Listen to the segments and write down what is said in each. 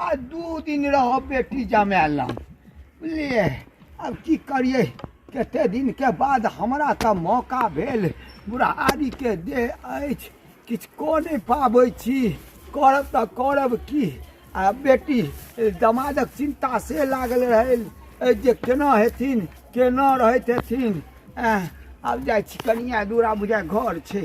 आ दू दिन रह बेटी जमायल लग बुझलियै आब की करियै कते दिनके बाद हमरा तऽ मौका भेल बुढ़ारीके देह अछि किछु कऽ नहि पाबै छी करब तऽ करब की आ बेटी दमादक चिन्ता से लागल रहै जे केना हेथिन केना रहैत हेथिन आब जाइ छी कनिया दूरा बुझा घर छै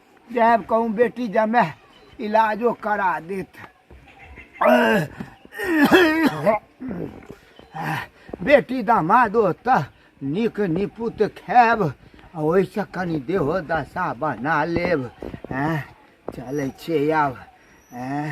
जायब कहूँ बेटी जमे इलाजो करा देत बेटी दामाद तऽ नीक निपुत खायब आ ओहिसँ कनि देहो दशा बना लेब एँ चलै छियै आब एँ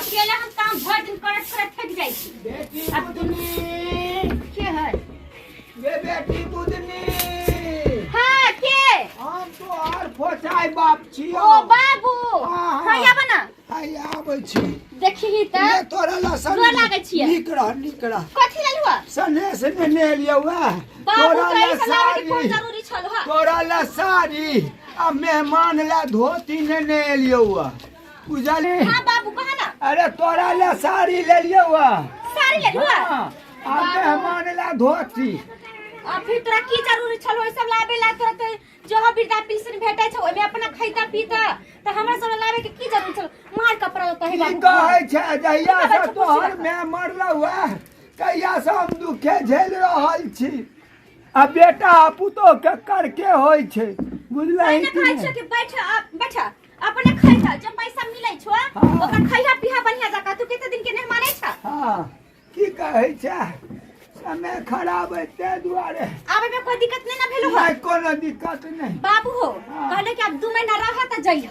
अकेले हम काम भर दिन करत करत थक जाइ छी बेटी अब तुम बुदनी के है ये बेटी बुदनी हां के हम तो आर फोचाई बाप छियो ओ बाबू हाँ, हाँ। हैया बना आइ आबै छी देखी ये त तोरा लसन गोर लागै छियै। नीक रह नीक रह कथी ललुआ सने से नेने एलियौ वैह बाबू तोरा कहै लसन छला कि फोन जरूरी छल हा तोरा लसारी आ मेहमान ला धोती नेने एलियौ आ बुझली हाँ बाबू कहा ना अरे तोरा ला साड़ी लेलियौ आ साड़ी ले लुआ हाँ, आ मेहमान ला धोती आ फिर तोरा की जरूरी छलो ई सब लाबे ला तोरा तो जो हम बिरदा पिलसन भेटै छ ओमे अपना खैता पीता त हमरा सब लाबे के की जरूरी छलो मार कपड़ा लता है की बाबू कहै छै जहिया की कहै से छै, तोहर पूछी मेहमान रहुआ तहिया से हम दुखे झेल रहल छी आ बेटा आ पुतोह के करके होइ छै बुझलही पहिने कि कहै नहि? छौ कि बैठ आ- बैठ अपने खैहा जब पैसा मिलै छौ हाँ। ओकर खैहा पीहा बढ़िया जकाँ तू कते दिन के नहि मानै छौ हाँ की कहै छै समय खराब है ताहि दुआरे आबै में कोई दिक्कत नहीं ना भेलो हो नहीं कोनो दिक्कत नहीं बाबू हो हाँ। कहले कि अब दू महीना रह त जइह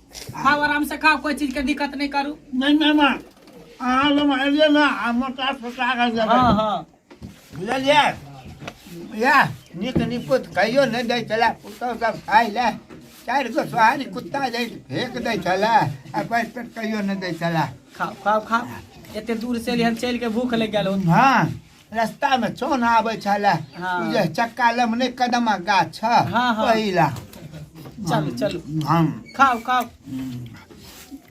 खाओ आराम से खाओ कोई चीज के दिक्कत नहीं करू नहीं मेहमान अहाँ लोग एलियै ने आ मोटा सोटा कऽ देबै हाँ हाँ बुझलियै इएह नीक निपुत कहियो नहि दै छलै पुतहु सब खाइ लए चारि गो सोहारी कुत्ता जे फेंक दै छलै आ पैर पेट कहियो नहि दै छलै खाओ खाओ खाओ एते दूर से एलिहन चल के भूख लग गेल हन। हँ रास्ता में चौन आवे छले हाँ। उ जे चक्का लम ने कदमा गाछ छ हाँ, हाँ। पहिला चलू चलू हम खाओ खाओ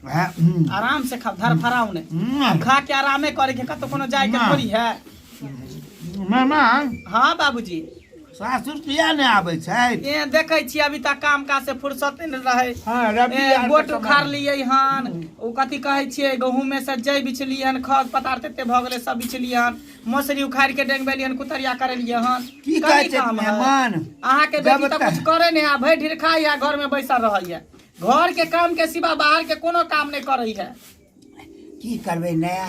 वएह, हम्म, आराम से खाओ धर फराओ ने हम्म, खा के आरामे करे के कतो कोनो जाए के ना। थोड़ी है मामा हाँ बाबूजी सासुर किया नहि आबै छै ए देखै छी अभी तक काम काज से फुर्सत नहि रहै हाँ, रवि ए, आर के गोट समय। उखाड़ लियै हन ओ कथी कहै छियै गहूँमे से जइ बिछलियै हन खग पदार्थ एते भऽ गेलै सब बिछलियै हन मौसरी उखाड़ि के डेंगबेलियै हन कुतरिया करेलियै हन की कथी कहै छै काम है? मेहमान अहाँके जब बेटी तऽ तक- कुछ करे नहि है भरि ढीर खाइ है घर में बैसल रहै है घर के काम के सिवा बाहर के कोनो काम नहि करै है की करबै नया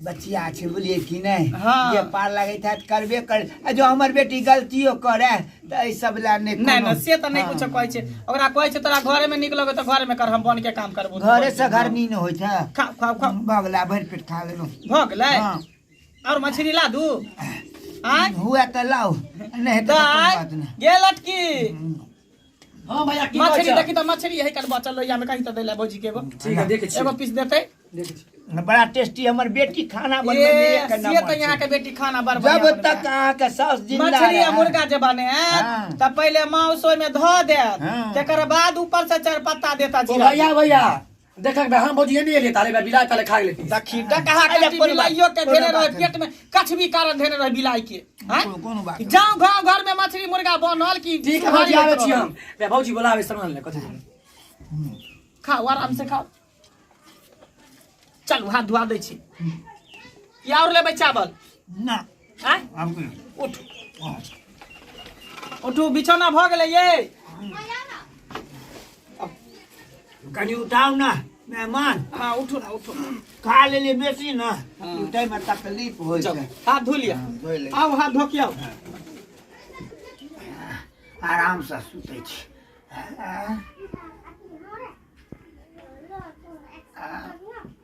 बचिया छै बुझलियै कि नहि हाँ। जे पार लगैत हैत करबे कर आ जो हमर बेटी गलतियो करे तऽ एहि सब लए नहि नहि कोनो- नहि से तऽ नहि हाँ। कुछो कहै छै ओकरा कहै छै तोरा घरे में नीक लगो तऽ घरे में कर हम बन के काम करबो घरे से घर नीन होइ छै खा खा खा बगला भरि पेट खा लेलहुँ भऽ गेलै हाँ। और मछली ला दू आँय हुए तऽ लाउ नहि हेतै तऽ कोनो गाय बात नहि गे लटकी हाँ भैया की मछली देखी तो मछली है कल बचल लोहिया में कहीं तो देला भौजी के एगो ठीक है देखे एगो पीस देते बड़ा टेस्टी हमर बेटी खाना बनबे में करना ये तो यहां के बेटी खाना बनबे जब तक अहां के सास जिंदा मछली आ मुर्गा जे बने हाँ। त पहले मांस ओय में धो दे हाँ। तकर बाद ऊपर से चार पत्ता देता जीरा भैया भैया देखक बे हम बोझिए नहीं एलिए तारे बे बिलाई ताले खा गेले ती देखी डकहा के अरे जे कोन बात- बिलाइयो के कोन धेने बात रहे है। पेट में कछ भी कारण धेने रहे बिलाई के हैं कोनो- कोनो बात नहीं। जाओ गांव घर में मछली मुर्गा बनल की ठीक है भौजी आवे छी हम बे भौजी बोलावे सामान ले कथि खाओ आराम से खाओ चलू हाथ धुआ दै छी या और लेबै चावल ना उठू बिछौना भऽ गेलै ये कनि उठाउ ने मेहमान हाँ उठो ना उठो खा ले ले बेसी ना हाँ। उठै में तकलीफ हो जाओ हाथ धो लिया हाँ, धो ले आओ हाथ धो के आओ हाँ। आराम से सुतै छी